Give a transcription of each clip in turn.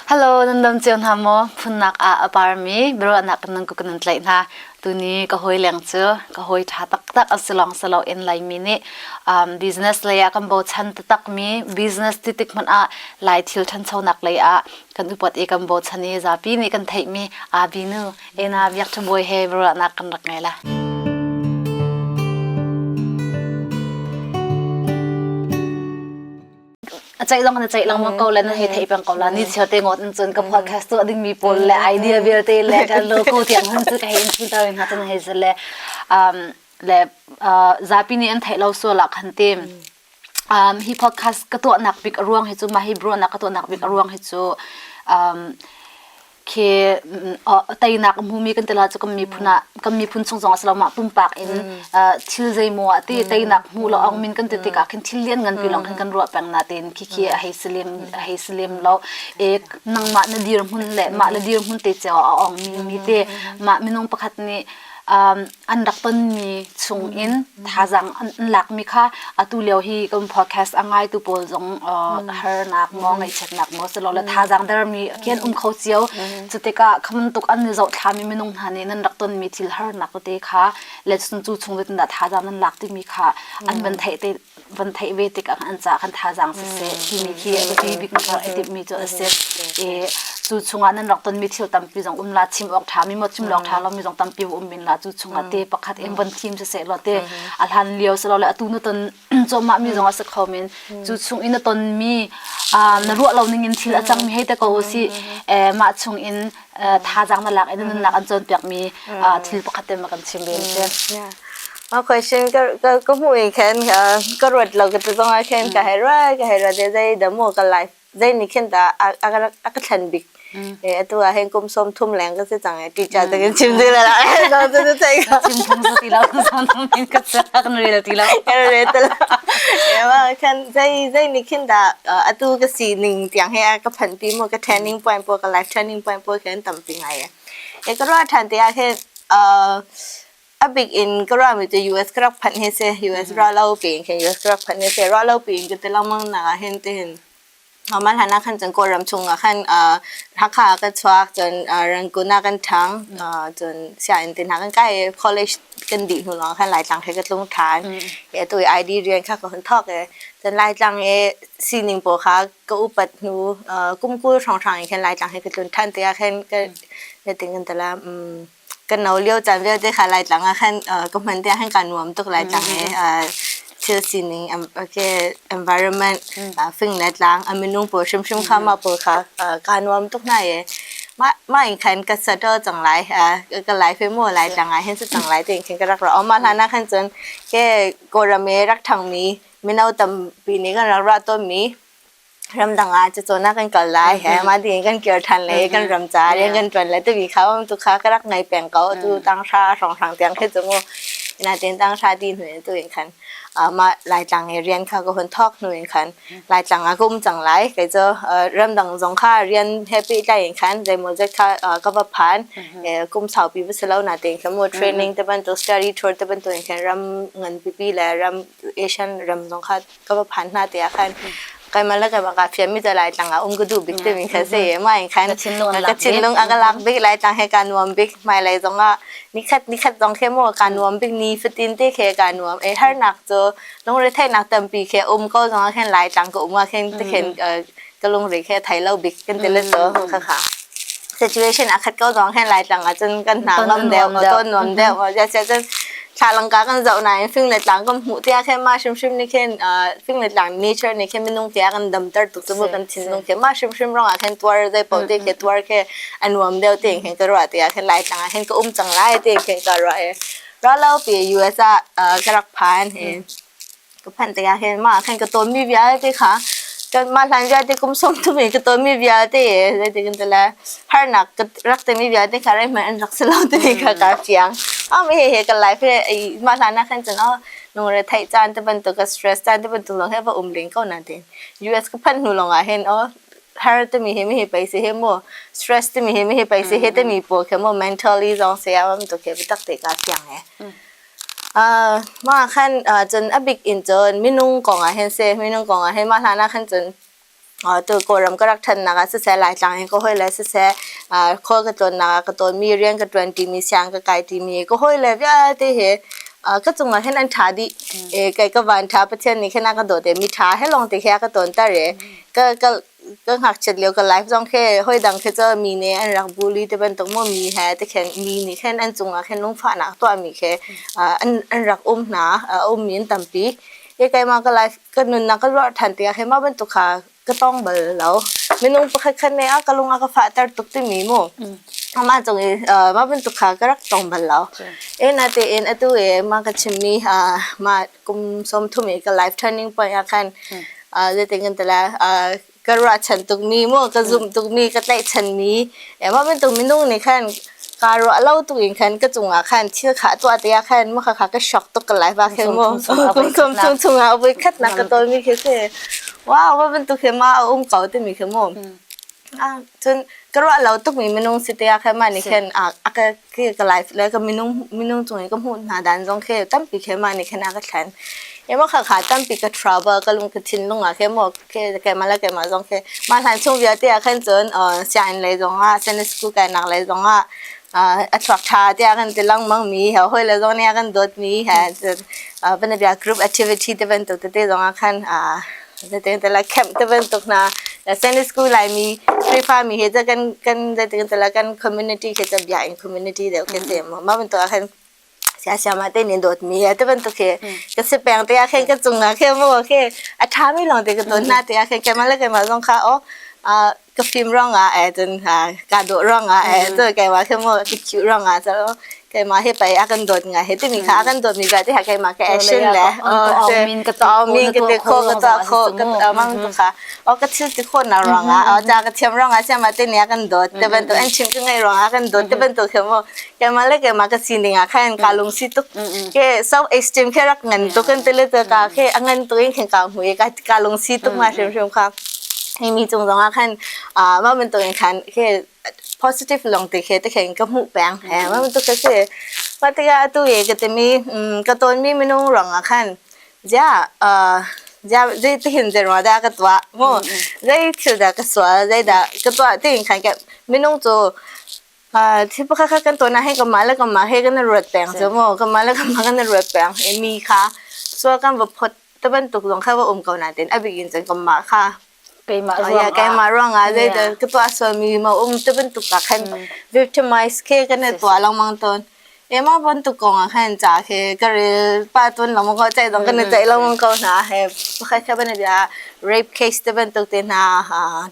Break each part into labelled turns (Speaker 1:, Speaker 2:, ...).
Speaker 1: Hello, nan dam cio hna maw? Phunnak ah a parmi biaruahnak kan nan ku kan nan tlaih hna. Tuni ka hawi leng cu ka hawi ṭha taktak a si lawng si lo in Laimi nih um, business lei ah kan bochan taktakmi business titik hmanh ah Lai thil ṭhanchonak lei ah kan upat i kan bochan i zapi nih kan theihmi abinu ena biak ṭhabuai he biaruahnak kan rak ngei la. a ceih lawng an ceih lengmang ko le nan hei thei peng ko la ni chio te ngot in cun ka podcast tuah ding mi pawl le idea vialte le ka logo tiang hun cu ka hei in twitter in hna tan hei ze le um le uh, zapi nih an theih lo so la khan tim um hi podcast ka tuah nak bik ruang hi chu ma hi bro nak ka tuah nak bik ruang hi chu um khi teinak a hmumi kan tila cu kan miphun ah kan miphun chung zong asilo mah pumpak in thil zeimaw a ti teinak hmu lo ong min kan ti tikah khin thil lian ngan pi lawng khin kan ruah peng na tein khi khi a hei si lem a hei si lem lo ek nangmah na dir hmun le mah le dir hmun te ceo a ong mi mi te mah minung pakhat nih an rak tonmi chungin thazaang an, an lakmi kha atu lio hi kan podcast a ngaitu pawl zong uh, harnak maw ngaihchiatnak maw silola thazaang dermi kian um kho cio cu tikah khaman tuk an zoh thlami minung hna nih nan rak tonmi thil harnak te kha le cu chung chung dah thazaang nan lak timi kha an van theih te van theih ve tikah an ca kan thazaang siseh timi khi a biapi bik hmuh a timhmi cu a si i cu chungah nan rak tonmi thil tampi zong um la chim awk ṭha mi maw chim awk ṭha lomi zong tampi va um men la cu chungah te pakhat in van thim siseh law te a hlan lio si lo le atu na ton cawmah mi zongah si kho men cu chung i na tonmi na ruah lo ningin thil a cangmi hei te ko u si mah chung in thazaang na lak in nunnak an cawnpiakmi thil pakhat te ma kan chim ve si. Ma question ka ka mu i khen ka ka ruat lo ka tu zong a khen ka hai ra ka hai ra de zai da mu ka life zai ni khen ta a a ka thlan bik e atu a hen kum som thum leng ka se chang e teacher ta ka chim de la so tu tu sai ka chim thang si lo so thang in ka sa kan rel ti la kan rel ta la e ma khen zei zei nih khin dah uh, atu ka sining tiang he ka phan ti mo ka training point po ka life training point po khin tam ti ngai e ka ro than te a he uh a big in ka ro mi te US ka rak phan he se US ro lo pin khin US ka rak phan he se ro lo pin ka te long mang na hin te hin normal hana khan cun kawlram chung ah khan uh, Hakha kan chuak cun uh, Rangkun ah kan thang uh, cun siain tin ha kan kai college kan di hnu lawng khan Laitlang he ka tlung than e tu ID rian kha ka hun thok e cun Laitlang e sining po kha ka upat hnu uh, kumkul hrang hrang in khan Laitlang he ka tlun than te ah khan ka ka ting kan tala um kan no lio caan vialte kha Laitlang ah khan uh, ka hman te han ka nuam tuk Laitlang mm -hmm. e uh, thil sining okay, environment uh, fing le tlang a minung pawl hrimhrim kha ma pawl kha uh, ka nuam tuk na ye ma ma in khan ka sato chang lai uh, ka lai fe mo lai tlang a hen su chang lai te in khan ka rak ra o ma hlana khan chun ke korame rak thang mi mino tam pi ni kan rak ra to mi ramdang ah cacawn ah kan kal lai he mah ti in kan kir than le kan ram ca rian kan tuan le tubi kha um tu kha ka rak ngai peng ko tu tanghra hrawnghrang tiang khi cu mu ina tin tanghra ti hnu in tu in khan mah laitlang e rian kha ko hun thok hnu in khan laitlang ah ka um cang lai kei cu ramdang zong kha rian he pi tlai in khan zeimaw zet kha ka va phan kum saupi va si lo na tin kha mu training te ban tu study tour te ban tu in khan ram ngan pipi le ram asian ram zong kha ka va phan hna te ah khan kai ma la ka va ka phiam mi te lai tlang a um ka du bik te mi kha se ma in khan ka thinlung a ka lak bik lai tlang he ka nuam bik mai lai zong a nikhat nikhat zong khe mo ka nuam bik ni fatin te khe ka nuam e har nak cho longre thai nak tampi khe um ko zong a khen lai tlang ka um a khen te khen ka lungri khi thei lo bik kan ti le so kha kha situation a khat ko dong hen lai tlang ah cun kan hna ngam deuh ngo ton nuam deuh ngo ja chan thla langka kan zau na in fing le tlang kan hmu tia khe ma shim shim ni khen fing le tlang nature ni khe minung tia kan dam tar tu tu kan thin nung khe ma shim shim rong a khen tuar dai po te ke tuar ke anuam deuh te khen ka ro tia khen lai tlang khen ka um chang lai te khen ka ro e ra lo pi US a ka rak phan hin ka phanh tik ah hin mah khan ka tawnmi vialte kha kan mah hlan vialte kum sawm thum in ka tawnmi vialte zeitik in tila harnak ka rak timi vialte kha rai hman an rak si lo timi kha ka fiang am he he ka life he mah hlan ah khan cun oh nung re thai caan te bantuk ka stress caan te bantuk lawng he va um ling ko na tin US ka phan hnu lawng ah hin oh har te mi he mi he paisi he mo stress te mi he mi he paisi he te mi po khe mo mentally zong se awam to ke bi tak te ka fiang he Mah ah khan cun a bik in cun minung kong ah hin a si. Minung kong ah hin mah hlan ah khan cun tu Kawlram ka rak ṭhannak ah siseh, Laitlang in ka hawile siseh, khual ka tlawnnak ah ka tlawnmi, rian ka ṭuan timi, siang ka kai timi ka hawile vialte hi ka cung ah hin an ṭha dih. Kei ka vanṭha, Pathian nih khin a ka dawt i miṭha he lawngte khi a ka ṭawnter i ka ka ngakchiat lio ka life zong khi hawi dang khi cu mi nih an rak bully te bantuk maw mi he te khin mi nih khin an cungah khin lungfahnak tuahmi khi uh, an, an rak um hna uh, um in tampi e keima ka life ka nunnak ka luar than te khi ma bantuk kha ka tong bal lo minung pakhat khan ne a ka lunga ka fahter tuk timi mu ama chung i ma bantuk kha ka rak tong bal lo e na te in atu e ma ka chimmi ma kum som thumi ka life turning point a khan uh, zetin tala uh, ka ruahchan tukmi mu ka zumh tukmi ka tlaihchan mi ema mintung minung nih khan ka ruah lo tu in khan ka cungah khan thil kha tuah te khan ma kha ka shock to ka life ke mo kum kum chung chungah voi khat nak ka tol mi khi se wow ba ban tu khe ma um kau te mi khi mo cun ka ruah lo tukmi minung si te ah khan mah nih khin a ka ka life le ka minung minung cung i ka hmuh hna dan zong khi tampi khin mah nih khin a ka thlen ema kha kha tampi ka travel ka lung ka thinlung ah khin mo ke keimah le keimah zong khi mah hlan chung vialte ah khin cun sian lei zong ah sene school kai nak lei zong ah a chuak tha te ah kan ti langmang mi he hoi le zong ne kan dawt mi he van bia group activity te ban to te zong ah khan Zatengtala camp te bantuk hna Sunday school Laimi Khrihfami he ca kan kan zatengtala kan community khi ca biakinn community deuh khi si mu mah bantuk ah khan sia siam ah te nin dawt mi te bantuk khi ka si peng te ah khin ka chung na khe mu khe a tha mi long te ka ton na te ah khin kemal le kemal zong kha o ka fim ruangah eh cun ha kaa dawh ruangah eh cu keimah khi maw ka khiu ruangah cun keimah hi pei a kan dawt ngai he timi kha a kan dawtmi vialte ha keimah ka action le aw min ka aw ka te kho ka ta kho ka mang tu kha o ka thil ti kho na ruangah o ta ka thiam ruangah siam ate ni a kan dawt te ban to an chim ka ngai ruangah a kan dawt te ban to khi maw keimah le keimah ka sining ah khan ka lung si tuk ke self esteem ke rak ngan tu kan tele ta ka ke a ngan tu in khen ka hui ka ka lungsi tuk ma hrim hrim kha himi cung zong ah khan ah mah bantuk in khan ke positive long ti ke te khen ka mu peng he mah bantuk ka si pa tiga atu ye ka timi ka ton mi minung rang a khan ja ja zai ti hin zero da ka tua mo zai thil da ka swa zai da ka tua ti in khan ka minung chu Ah thil pakhat kha kan tuan ah hin kanmah le kanmah he kan i ruat peng cu maw kanmah le kanmah kan i ruat peng i mi kha sual kan va phawt te bantuk zong kha va um ko nain a bik in cun kanmah kha keimah Ah, ruang yeah, keimah ruangah zeidah ka tuah sualmi ma um te bantuk ah khan victimize ke kan i tuah lengmang tawn Ema bantuk kong ah khan ca khi ka rel pa tun lo maw ko ceih dong kan i ceih lo maw ko hna he pakhat kha bane bia rape case te bantuk te hna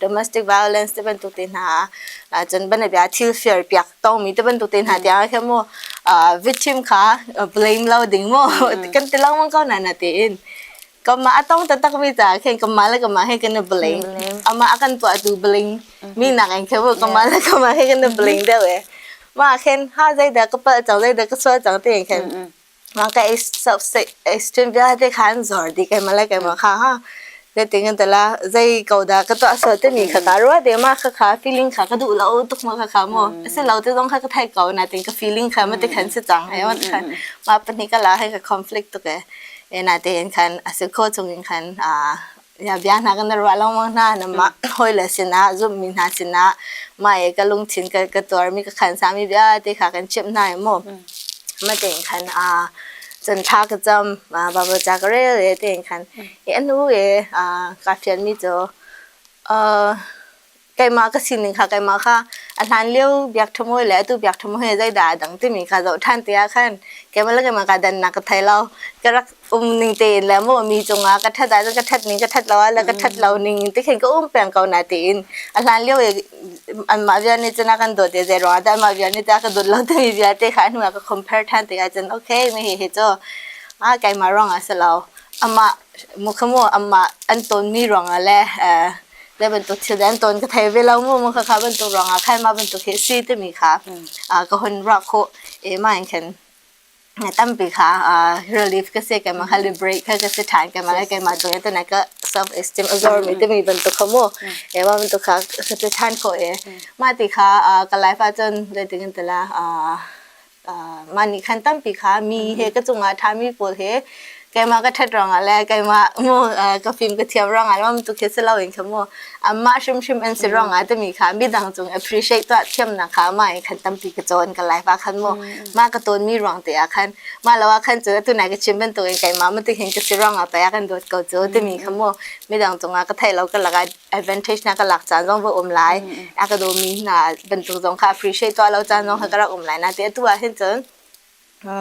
Speaker 1: domestic violence te bantuk te hna cun bane bia thil fair piak tong mi te bantuk te hna tiang kha mu victim kha blame lo ding mu kan ti lo maw ko na na ti in Kamah a tong taktakmi caah khin kamah le kamah he kan i bling. Amah a kan tuahtu bling. Mi nak in khewu kamah le kamah he kan i bling deuh e. Mah khin ha zeidah ka palh cang zeidah ka sual cang ti khin. Mah ka extreme vialte khan zor di kai mala kai ma kha ha. Zetin kan tala zei ko dah ka tuah sual timi kha ka rua de ma kha kha feeling kha ka duh lo tuk ma kha kha mo. Asi lo te zong kha ka thai ko na tin ka feeling kha ma te khan si cang e wan kha. Mah pahnih ka la he ka conflict tuk e. ena tein khan a si kho chung in khan aa ya bia hna kan ruah lengmang hna nanmah hawi le sinah zumhmi hna sinah mah i ka lungthin ka ka tuar mi ka khan sami vialte kha kan chimh hna i maw ma tein khan a cun tha ka cam baba ca ka rel e tein khan i anu e a ka fian mi cu uh keimah ka sining kha keimah kha a hlan lio biak ṭham hawi le atu biak ṭham hawi zeidah a dang timi ka zoh ṭhan te ah khan keimah le keimah kaa dannak ka thei lo ka rak um ning tein le maw mi cungah ka ṭhat ahcun ka ṭhat ning ka ṭhat lo ah le ka ṭhat lo ning ti khin ka um peng ko na tiin a hlan lio i anmah vial nih cun a kan dawt i zei ruang ah anmah vial nih cun a ka dawt lo timi vialte kha a hnuah ka compare ṭhan te ahcun okay mi hi hi cu a keimah ruang ah si lo amah Mukhamu amah an tawnmi ruangah le uh, le bantuk thil an tawn ka thei ve lo mu mu kha kha bantuk ruangah khai ma bantuk hi si timi kha uh, ka hun ra kho e ma in khen tampi kha uh, relief ka se kema kha liberate kha ka se than kema ka kema doya tana ka self esteem azor mi timi bantuk kha mu e ma bantuk kha ka se than kho e ma ti kha ka life a chon le tingin tala uh, mah nih khan tampi kha mi he ka cungah ṭhami pawl he keimah ka ṭhat ruangah le keimah maw ka fim ka thiam ruangah le tuk hi si loin kha maw amah hrimhrim an si ruangah timi kha midang cung appreciate tuah thiamnak kha mah in khan tampi ka cawn ka life ah khan maw mah ka tawnmi ruang te ah khan mah lo ah khan cu tunai ka chim bantukin keimah matik hin ka si ruangah pei ah kan dawt ko cu timi kha maw midang cungah ka theih lo ka lakah advantage na ka lak caan zong va um lai a ka dawmi hna bantuk zong kha appreciate tuah lo caan zong kha ka rak um lai na te atu ah hin cun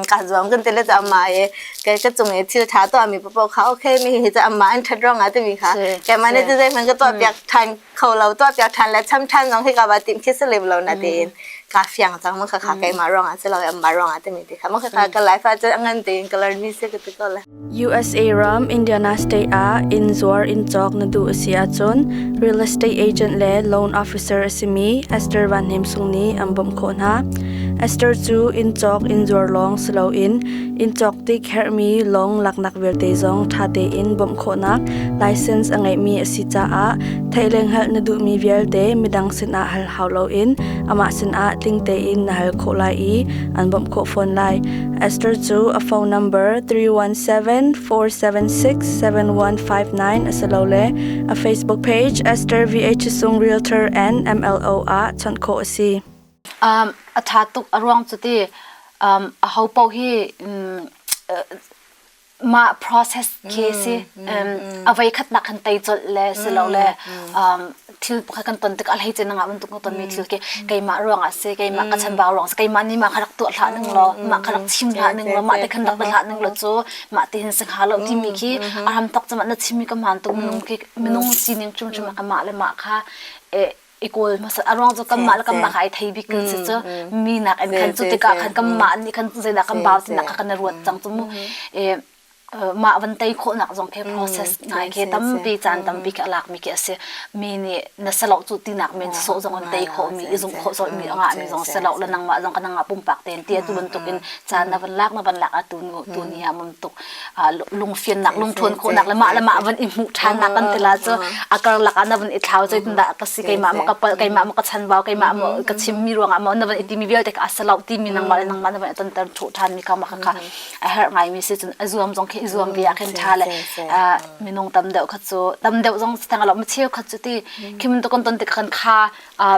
Speaker 1: ka zuang kan tele cha amma e ke ka chung e thil tha to ami popo kha okay mi hi cha amma an that rong ati mi kha ke mane chu zai man ka to piak than kho lo to piak than la cham than zong hi ka ba tim khi se lev lo na te in ka fiang chang ma kha kha ke ma rong a se lo amma rong ati mi ti kha ma kha ka life a cha ngan te in color ni se ka ti ko la USA ram Indiana state ah inn zuar inn cawk na duh a si ahcun real estate agent le loan officer a simi Esther Van Hnem Sung nih an bawmh khawh hna. Esther cu inn cawk inn zuar lawng si loin inn cawk tik herhmi lawng laknak vialte zong ṭha tein bawmh khawhnak license a ngeihmi a si caah theileng hal na duhmi vialte midang sinah hal hau loin amah sinah tling tein na hal khawh lai i an bawmh khawh fawn lai. Esther cu a phone number 317 476 7159 asilole a Facebook page Esther VH Sung Realtor and MLO ah chawnh khawh a si. Um, a tha tuk a ruang cu ti um, a ho pau hi um, mah process khi si avei khatnak kan tei colh le si lo le thil pakhat kan ton tik ah hlei cin ngah bantuk ka tonmi thil khi keimah ruang ah si keimah ka chanbau ruang si keimah nih mah ka rak tuah hlah ning law mah ka rak chim hlah ning law mah te khan rak dah hlah ning law cu mah te hin sing ha lo timi khi a ram tak cam na chimmi ka man tu minung khi minung sining chung chung ka mah le mah kha i kawl hmasat a ruang cu kanmah le kanmah ai thei bik kan si cu mi nak in khan cu tikah khan kanmah nih khan zeidah kan bau tinak kha kan i ruat cang cu mu i mah van tei khawhnak zong khi process ngai khi tampi caan tampi khi a lak mi khi a si mi nih na salo cu tinak men sawh zong an tei khawh mi i zung khawh sawh mi a ngah mi zong salo la nangmah zong ka nangmah pumpak ten tiah cu bantuk in caan na van lak na van lak a tu nu tu ni ha mum tuk lungfiannak lungthawn khawhnak le mah le mah van i hmuh ṭhannak kan tila cu a karlak ah na van i thlau cai tindah ka si keimah ma ka palh keimah ma ka chanbau keimah ma ka chimmi ruangah ma na van i timi vialte ka asalaw timi nangmah le nangmah na van i tonter ṭhuh ṭhan mi ka ma kha a herh ngai mi si cun a zuam zong khi i zuam bia khin ṭha le minung tam deuh kha cu tam deuh zong tang lo ma cheu khat cu ti khimin to kon ton ti kan kha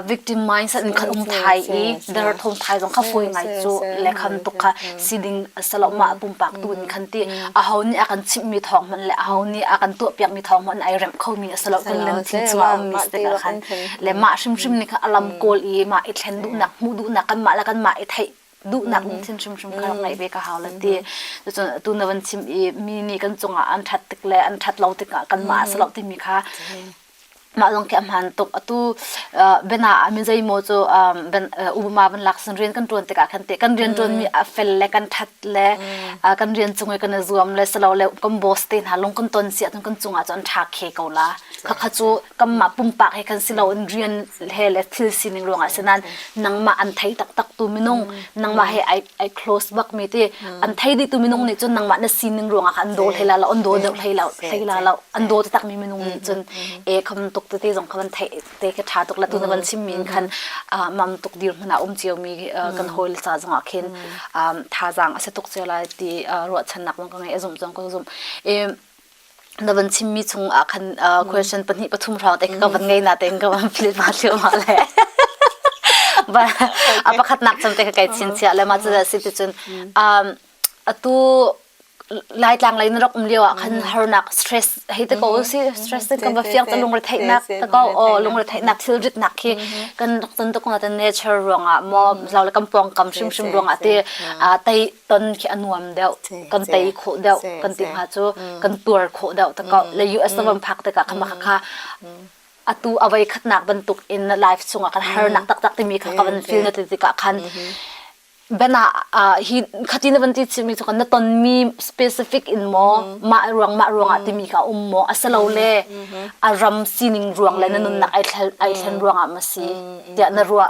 Speaker 1: victim mindset in khan um thai i derthawng thai zong kha poi ngai cu le khan tuk kha si ding se lo mah pumpak tu in khan ti a ho nih a kan chimh mi thawng hmanh le a ho nih a kan tuah piak mi thawng hmanh ai remh kho mi se lo kan len thil chung a um mi te ka khan le mah hrimhrim ni kha alam kawl i mah i thlen duhnak hmuh duhnak kan mah le kan mah i theih duhnak ding thil hrimhrim kha ngai ve ka hau le ti cun tu na van chim i mi nih kan cungah an that tik le an that lo tikah kan mah se lo timi kha mah zong khi a hmaan tuk atu bena ah min zeimaw cu ubama van lak sin rian kan ṭuan tikah khan te kan rian ṭuanmi a fel le kan ṭhat le kan rian cung i kan i zuam le silo le kan boss te hna lung kan ton si ahcun kan cungah cu an ṭhak he ko la khakha cu kanmah pumpak he khan silo in rian he le thil sining ruangah si nan nangmah an thei taktak tu minung nangmah he ai ai close bak mi te an thei di tu minung nih cun nangmah na sining ruangah khan an daw hlei la lo an daw deuh hlei la hlei la lo an daw te tak mi minung nih cun e kham tuk te te zong khan an thei te ke tha tuk la tu na van chim mi in khan mam tuk dir hmun ah um cio mi kan hawi le ca zongah khin thazaang a se tuk cio lai ti ruahchannak zong ka ngei a zumh zong ka zumh e na van chimmi chung ah khan uh, question pahnih pathum hrawng te ka van ngei na tein ka van filit ma thliu ma le ba a pakhat nak cham te ka kai chin cia le ma chu da si ti cun um atu laitlang lei na rak um lio ah khan harnak stress hei te ko si stress te kan ba fiang ta lungre theih nak ta ko o lungre theih nak thil rit nak hi kan rak tan to ko na ta nature ruang ah mo zau le kam pong kam shim shim ruang ah te tai ton khi a nuam deuh kan tei khawh deuh kan ti hna cu kan tuar khawh deuh ta ko le US ram phak tikah kha maka kha atu awai khatnak bantuk in life chungah kan harnak taktak timi kha ka van feel na ti tikah khan bena hi khatin van ti chimi chu kan na ton mi specific in mo ma ruang ma ruang ah timi ka um mo asalo le a ram sining ruang le na nunnak ai thlen ai thlen ruang ah ma si tiah na ruah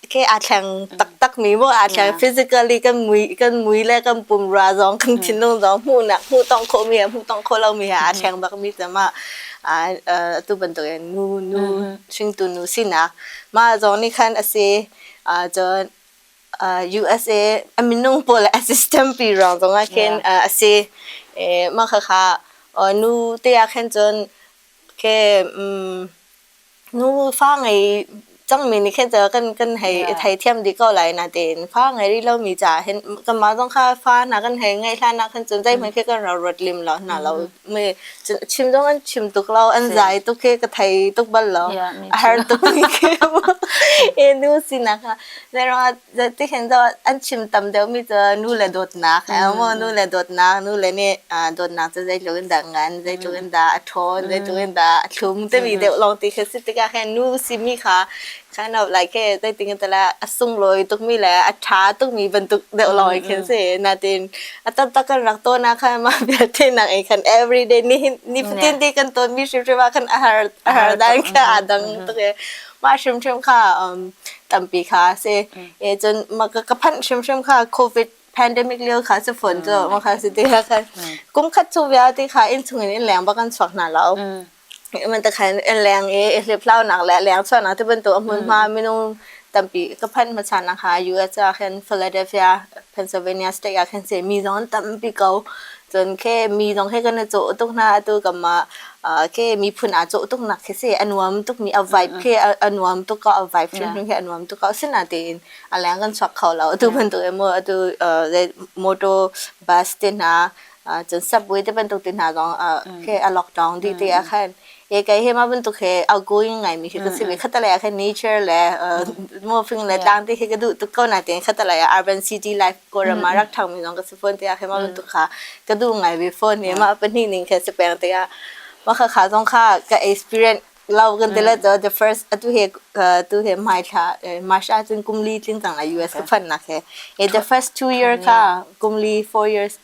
Speaker 1: ke aa thleng taktak mi mu aa thleng physically kan mui kan mui le kan pumra zong kan thinlung zong hmuh nak hmuh tong khawh mi hmuh tong khawh lo mi ha aa thleng bak mi cama tu bantuk in nu nu hringtu nu sinak mah zong nih khan asi cun USA a minung pawl a system pi rong zong ah khin asi mah kha nu te ah khan cun ke Nu fa ngei cangmi nih khin kan hei theithiam dih ko lai natein fa ngei rih lomi ca hin kanmah zong kha fa hna kan hei ngeih hlan ah khin cun zeihmanh khi kan ro ruat lim lo hna lo. Chim zong an chim tuk lo, an zai tuk hi ka thei tuk bal lo. A har tuk mi khi mu. E nu sinak ah. Zei ruangah Tihin zoh an chim tam deuhmi cu nu le dawtnak he maw nu le dawtnak nu le nih ah, dawtnak cu zeitluk in dah ngan zeitluk in dah a ṭhawn zeitluk in dah a thlum timi deuh lawng ti khi a si tikah khin nu simi kha kind of like hey zeiting in tala a sunglawi tukmi le a ṭha tukmi bantuk deuh lawng khi a si natin a taktak kan rak tawnah khan mah vialte nak ei khan everyday ni nifatin ti kan tawnmi hrimhrim ah khan a har a har dan kha aa dang tuk i mah hrimhrim kha um tampi kha a si e cun ma ka ka phanh hrimhrim kha covid pandemic lio kha si phone cu ma kha si ti kha khan kum khat chu bia ti kha in chung in leng ba kan chuak hna lo man ta khan in leng e hlip hlau nak le leng chuan na te bantu amun ma minung tampi ka phan ma chan na kha US a khan Philadelphia Pennsylvania state a khan se mi zon tampi ko Cun khi mi zong he kan i cawh tuk hna. Atu kam ah uh, khi miphun aa cawh tuk nak khi si a nuam tuk mi a vibe khi a, a nuam tuk ko a vibe hrimhrim hi a nuam tuk ko asinain tiin a leng kan chuak kho lo atu bantuk in maw atu uh, le motor bus te hna uh, cun subway te bantuk te hna zong uh, khi a lockdown dih ti a khan He kai he ma bantuk he outgoing ngai mi khi ka si mi khatalai ah khan nature le moving le tlang te khi ka duh tuk ko na te khatalai ah urban city life Kawram ah rak thang mi zong ka si phone te ah khan ma bantuk kha ka duh ngai mi phone he ma pahnih ning khan si peng te ah ma kha kha zong kha ka experience lau kan tela to the first atu he tu he mai thla masha cun kumli tling tang a US ka phan na ke he the first two year ka kumli four years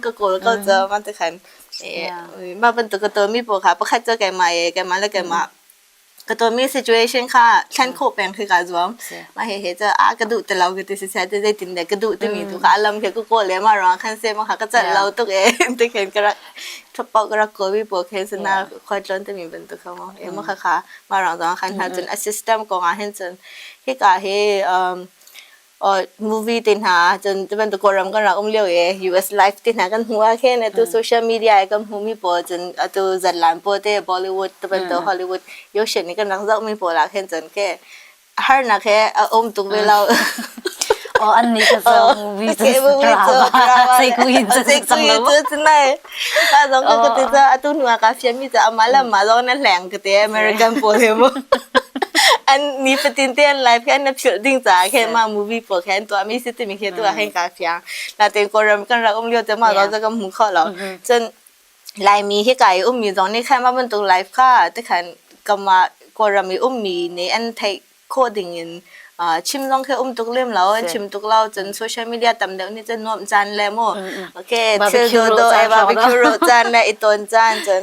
Speaker 1: ka kawl ko cu man te khan eh mah bantuk ka tawmi pawl kha pakhat cu keimah i keimah le keimah ka tawmi situation kha thlen khawh peng khi kaa zuam mah he he cu a ka duh ti lo ka ti si sai te zeitin deh ka duh timi tu kha alam he ka kawl le ma ruang khan se ma kha ka cat lo tuk eh ti khen ka rak thapo ka rak kawi pawl khen suna khoi tlon timi bantuk kha mo eh ma kha kha ma ruang zong khan hna cun a system ko nga hen cun hi ka he um or movie te hna cun cu bantuk kawlram kan rak um lio i US live te hna kan hmu ah khin atu social media i kan hmuhmi pawl cun atu zatlan pawl te Bollywood te bantuk Hollywood Yoshit nih kan rak zohmi pawl ah khin cun ke harnak he a um tuk ve lo Oh, an nih ka zoh movie cu drama. Sai ku yin cu cang lo. A zong ka kute cu atu hnu ah kaa fianmi cu amah le amah zong na hleng kate American pawl he mu. An ni fatin te an live khan na philh ding caah khin ma movie pawl khan tuahmi si timi khi tu ah hin kaa fiang. Natin Korean kan rak um lio te ma zong ka hmu kho lo. Cun Laimi hi kai ummi zong nih khan ma bantuk live kha te khan kama Korean i ummi nih an theih khawh ding in chim zong khi um tuk lem lo an chim tuk lo cun social media tam deuh nih cun nuamh caan le mu okay thil do do e barbecue ro caan le i ton caan cun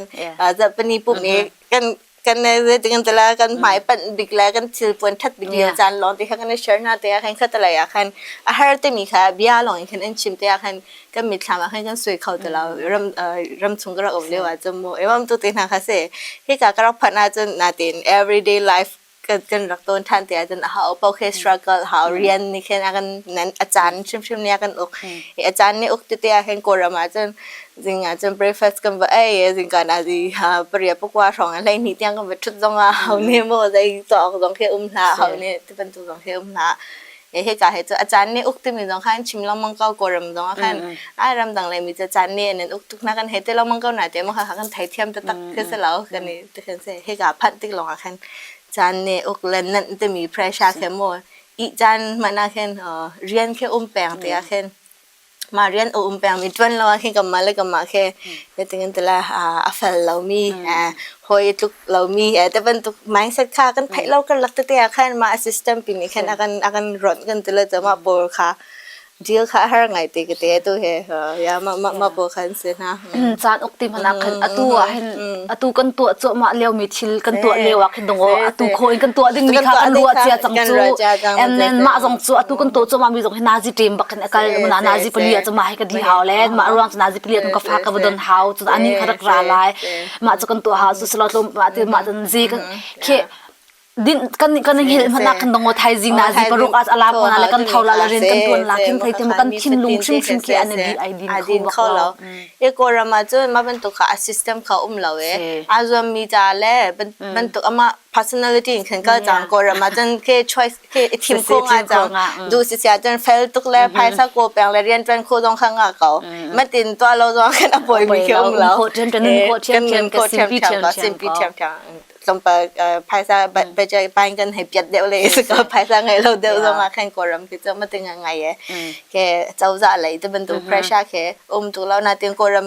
Speaker 1: zapani pup nih kan kan zeitin tala kan hmai pan bik le kan thil puan that bik lio caan long ti khan kan share na te khan khata lai khan a har te mi kha bia long in khan an chim te khan kan mit thlam khan kan sui khau tala ram ram chung ka rak um leo a chum mu ewam tu te na kha se hi ka ka rak phan a chun na tin everyday life kan, kan rak tawn ṭhan te ahcun a ho paoh khi struggle hau rian nih khin a kan nan a caan hrimhrim nih a kan uk i a caan nih uk tete ah khin kawlram ahcun zing ahcun breakfast kan va ei zingka na zi ha paria pakua hrawng a hlei ni tiang kan va ṭhut zong ah hau ne maw zei cawk zong khi um hlah hau ne ti bantuk zong khi um hlah he ca he cu a caan ne uk timi zong khan chim lengmang ko kawlram zong ah khan ai ram dang le mi ca caan ne nan uk tuk na kan he te lengmang ko na te mo ha kan thai thiam ta tak ke se lao kan ni te kan se he ka phat tik longah khan caan ne uk len nan te mi pressure khe mo i caan mana khen rian khe um peng te a khen mah rian a um pengmi ṭuan lo ah hin kanmah le kanmah khi hitin ti le a fel lomi hawi i tluk lomi te bantuk mindset kha kan theih lo kan lak tete ah khan mah system pi nih khan a kan a kan ronh kan ti le mah pawl kha deal kha har ngai te ka te tu he ya ma ma ma pawl khan se na caan uk ti mana khan atu ah hin atu kan tu cho ma leo mi thil kan tu leo ah khin dong o atu kho in kan tu ding mi kha kan ruwa chia chang chu and then ma zong chu atu kan tu cho ma mi zong hi nazi team bak kal na nazi pali ah cuma hai ka di hau le ma ruang cu nazi pali ah ka fa ka vadon hau cu ani ka rak ra lai ma cu kan tuah hau su selo tlum ma ti ma cun zi kan ke din kan kan hil mana kan dongo thai jing na zi paruk as alam kona le kan thawla la rin kan tuan la kin thai tem kan thin lung hrim hrim ke an bi ai din kho lo e ko rama chu ma ban to kha a system kha um lo e azom mi ta le ban ban to ama personality in khan ka jang ko rama chan ke choice i thim kho nga cang du si sia cun fel tuk le phaisa ko peng le rian tuan kho zong khang nga ko matin tua lo zong kan apoi mi khiam lo ko thiam kan ko thiam thiam ko sim pi thiam sim pi thiam thiam tlompa phaisa budget pain kan hei piat deuh le ka phaisa ngai lo deuh zong a kan ko ram ki cho matin ngai e ke chauza lei te bantu pressure ke um tu lo na tin ko ram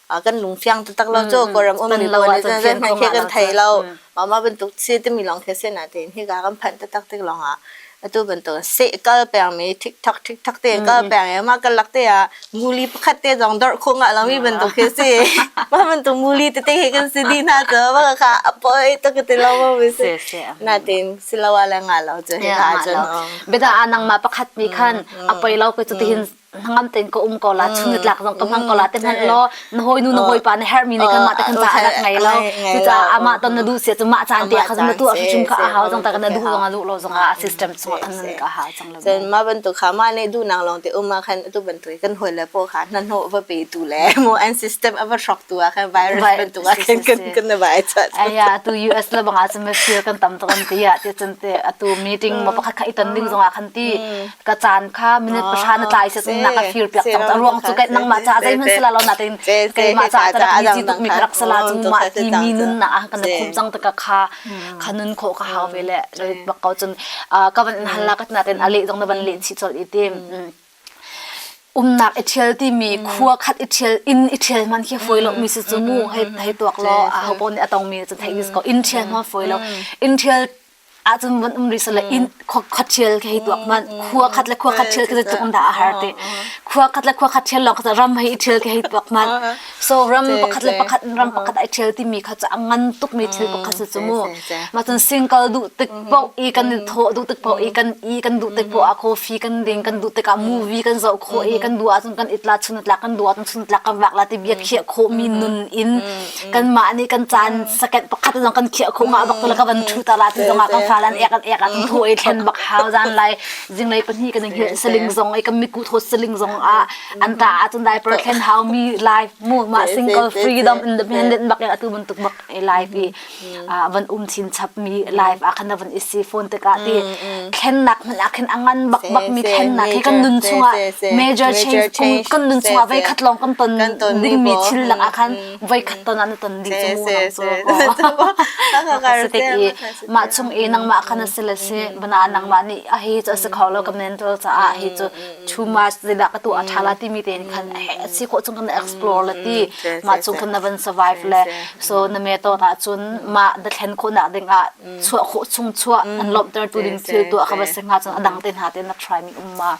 Speaker 1: a kan lungfiang taktak lo cu Kawlram um mi pawl nih cun hmanh khi kan thei lo mah mah bantuk si timi lawng khi sin ah tiin hi ka kan phanh taktak tik lawng ah atu bantuk seh kal peng mi thik thak thik thak te kal peng i mah kan lak te ah nguli pakhat te zong dorh khung ah lo mi bantuk khi si mah bantuk nguli te te khi kan si di hna cu mah ka a poi tak ti lo ma mi si na tiin si lo ah le nga lo cu hi ka cun beta anang ma pakhat nih khan a poi lo ka cu tihin hnangam tein ka um ko la chung na tlak zong ka hmang ko la te hmanh law na hoi nu na hoi pa na herh mi nih kan mah te kan ca adak ngai lo cucaah amah ton na duh sia cu mah caan te ah khazum na tu hrim ka hau zong ta kana duh zong a duh lo zong a system chung kan nan ka hau cang lo sen ma bantuk kha ma ne du nang long te um ma khan tu bantu kan hoi le po kha nan ho va pe tu le mo an system ava shock tu a khan virus bantuk a kan kan kan na bai cha aya tu US la banga chim feel kan tam to kan ti ya ti chan te atu meeting ma pakhat kha iton ding zong a khan ti ka caan kha minute pahra na tlai se nak a fir piak cang a ruang cu kai nangmah ca zeih hman sela lo na tin keimah ca ka rak mi ti tuk mi ka rak sala cu mah ti mi nun na a kan khop cang ta ka kha kha nun kho ka hau ve le bak ko cun ka van hal la ka na tin a le jong na van le chi chol i tim umnak i thial ti mi khua khat i thial in i thial man khi foi lo mi se chu mu hei hei tuak lo a ho pon atong mi chu thei is ko in thial ma foi lo in thial ahcun von um ri sale in khot chial ke hi tuak man khua khat le khua khat chial ke tung da a har te khua khat le khua khat chial lawng ka ram hei chial ke hi tuak man so ram pakhat le pakhat ram pakhat ai chial ti mi kha cha ngan tuk mi thil pakhat se chu mu ma chun single du tik po i kan tho du tik po i kan i kan du tik po a coffee kan ding kan du tik a movie kan zo kho i kan du a chun kan itla chun tla kan du a chun tla kan wak la ti bia khia kho mi nun in kanmah nih kan caan second pakhat lawng kan khiah khung ah bak tu ka van thu ta la ti zong ah kan falan ek an ek an thu i thlen bak hau zan lai zinglei pahnih kan hi saling zong i kan miku thot saling zong a an ta a cun diaper thlen hau mi life mu ma single freedom independent bak atu ban tuk bak i life i van um chin chap mi life a khana van isi phone te ka ti thlen nak man a khen angan bak bak mi thlen nak hi kan nun chunga major change kan nun chunga vei khat long kan ton ding mi thil nak a khan voikhat ton an ton ding cu mu nam cu mah chung i nangmah khan a si le si bana nangmah nih a hi cu a si kho lo ka men ro caah hi cu too much zila ka tu a tha la ti mi te khan a si kho chung kan explore la ti mah chung khan na van survive le so na me to na cun mah da thlen kho nak ding ah chua kho chung chua an lom ter tu ding thil tu ka ba singa cun adang te na te na try mi um ma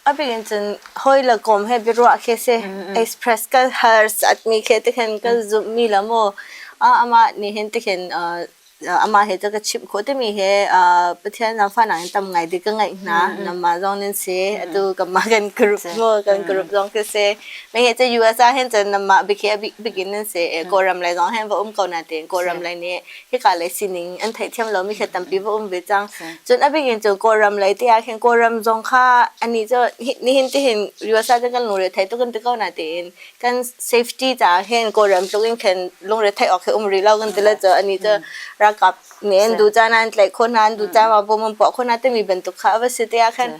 Speaker 1: A bikin cun hawi le kom he biaruah khi si. Express ka har satmi khi tikhin ka zumhmi le maw amah nih hin tikhin amah he cu ka chimh khawh timi hi Pathian le fahnak in tam ngai ding ka ngeih hna. Nangmah zong nan si. Atu kanmah kan group maw kan group zong khi si. Mei he cu US ah hin cun nangmah bikhi a bikin nan si. Kawlram lei zong hin va um ko na tiin Kawlram lei nih hika lei sining an theihthiam lomi thil tampi va um ve cang cun a bik in cu kawlram lei te ah khin kawlram zong kha ani cu nihin tihin usa cun kan lungre thei tuk kan ti ko na tiin kan safety caah hin kawlram tluk in khin lungre thei awk he um rih lo kan ti le cu ani cu ralkap nih an du caan an tlaih khon hna an du caan va bom an puah khon hna timi bantuk kha a va si te ah khan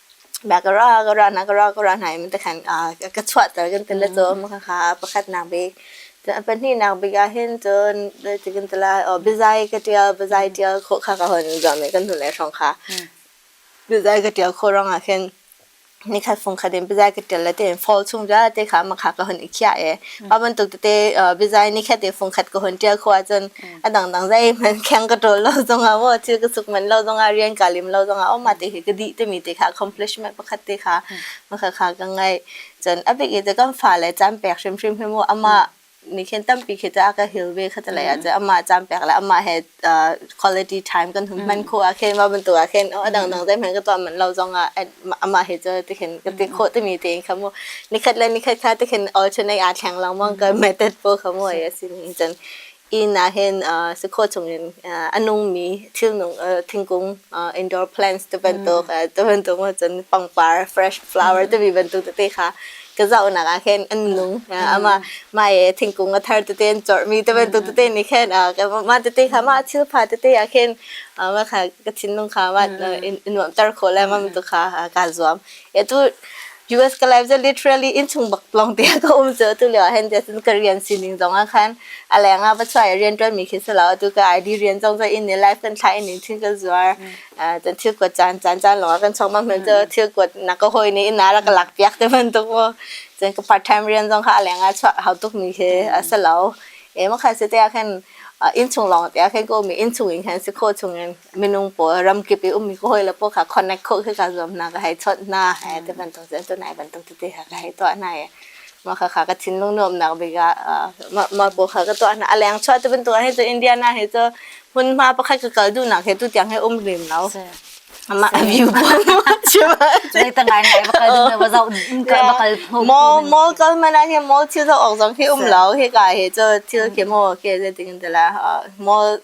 Speaker 1: Agara agara agara agara hna in takhan ka chuahter kan tel le cun khakha pakhatnak bik pahnihnak bik ah hin cun cutin tila biazai ka ṭial biazai ṭial khawh kha ka hun zuam i kan hnulei hrawng kha biazai ka ṭial khawh ruangah khin nikhat fungkhat in biazai ka ṭial le tiin fall chung vialte kha makha ka hun i khiah i mah bantuk tete biazai nikhat i fungkhat ka hun ṭial khawh ahcun a dangdang zeihmanh kheng ka ṭawl lo zongah maw thil ka suk manh lo zongah rian ka lim lo zongah aw mah te hi ka dih timi te kha accomplishment pakhat te kha makha kha ka ngai cun a bik i cu kan fa le caan pek hrimhrim hi mu amah nih khin tampi khi ca ka hil ve kha talai ah amah caan pek le amah he quality time kan hun hman kho ah khin mah bantuk ah khin a dang dang zeihmanh ka tuah manh lo zongah amah he cu ti khin ka ti khawh timi te kha mu nikhat le nikhat kha ti khin alternate aa thleng lang mong ka method po kha mu a si ni cun inn ahhin uh, si khawh chungin uh, a nungmi thilnung uh, thingkung uh, indoor plants te bantuk uh, te bantuk cun pangpar fresh flower te bi bantuk te kha ka zaunak ah khin an nung uh, ama mai thingkung a thar te ten chormi te bantuk te ni khin uh, ma te te kha ma thil pha te te ah khin ma kha ka thinlung kha ma in nuam tar kho le ma tu kha ka zuam atu US ka life cu literally inn chung bak lawng te ka um cu atu lio ah hen jason ka rian sining zong ah khan a leng ah va chuai rian tuan mi khi selo atu ka ID rian zong cu in ni life kan thla in ni thing ka zuar ta thil kuat caan caan caan lawng ah kan chong bang cu thil kuat na ka hoi ni in na ra ka lak piak te man tu ko cun ka part time rian zong kha a leng ah hau tuk mi khi a selo e ma kha se te khan in chung lawng te khan ko mi in chung in khan si kho chung in minung pawl ramkip i ummi ka hawile pawl kha connect khawh khi ka zuam hna ka hei chawnh hna hei ti bantuk cu tu nai bantuk tete ha ka hei tuah hna i mah kha kha ka thinlung nuamnak bik ah mah pawl kha ka tuah hna a leng chuah ti bantuk hi cu Indiana hi cu hmunhma pakhat ka kal duhnak he tu tiang he um rim lo ama view lei ta ngai ngai bakal ding ba zau in ka bakal pho mall mall kal mana hi mall thil zo ok zong hi um lo hi ka hi chu thil khi mo ke je ting de la mall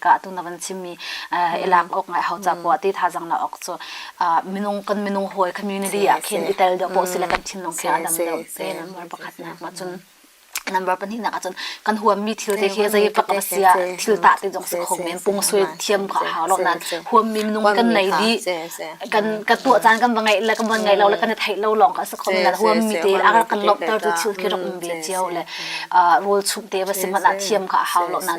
Speaker 1: ah tu na van chimmi i lak awk ngai hau capoah ti thazang la awk cu minung kan minung hawi community ah khin i tel deuh poh sile kan thinlung khi a dam deuh te number pakhat nak ma cun number pahnih nak ahcun kan huammi thil te khi zei pak va sia thil ta te jong si kho men pung sui thiam ka hau lo nan huammi minung kan nei di kan ka tuah caan kan va ngai le kan van ngai lo le kan thei lo long ka si kho men huammi te agar kan lop ter tu thil khi rak um bi chiao le rol chung te va si man thiam ka hau lo nan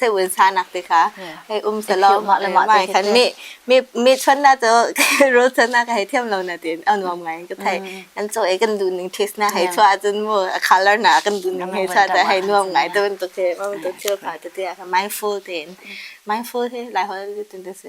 Speaker 1: seun sa nak te kha hei um se lo mai khan mi mi mi chon na to ro chon na ka hei thiam lo na tin an wam ngai ka thai an cho e kan du ning this na hei chwa jun mo a color na kan du ning hei sa ta hei nuam ngai to to ke ma to ke ka to te mindful tin mindful he lai hol tin te se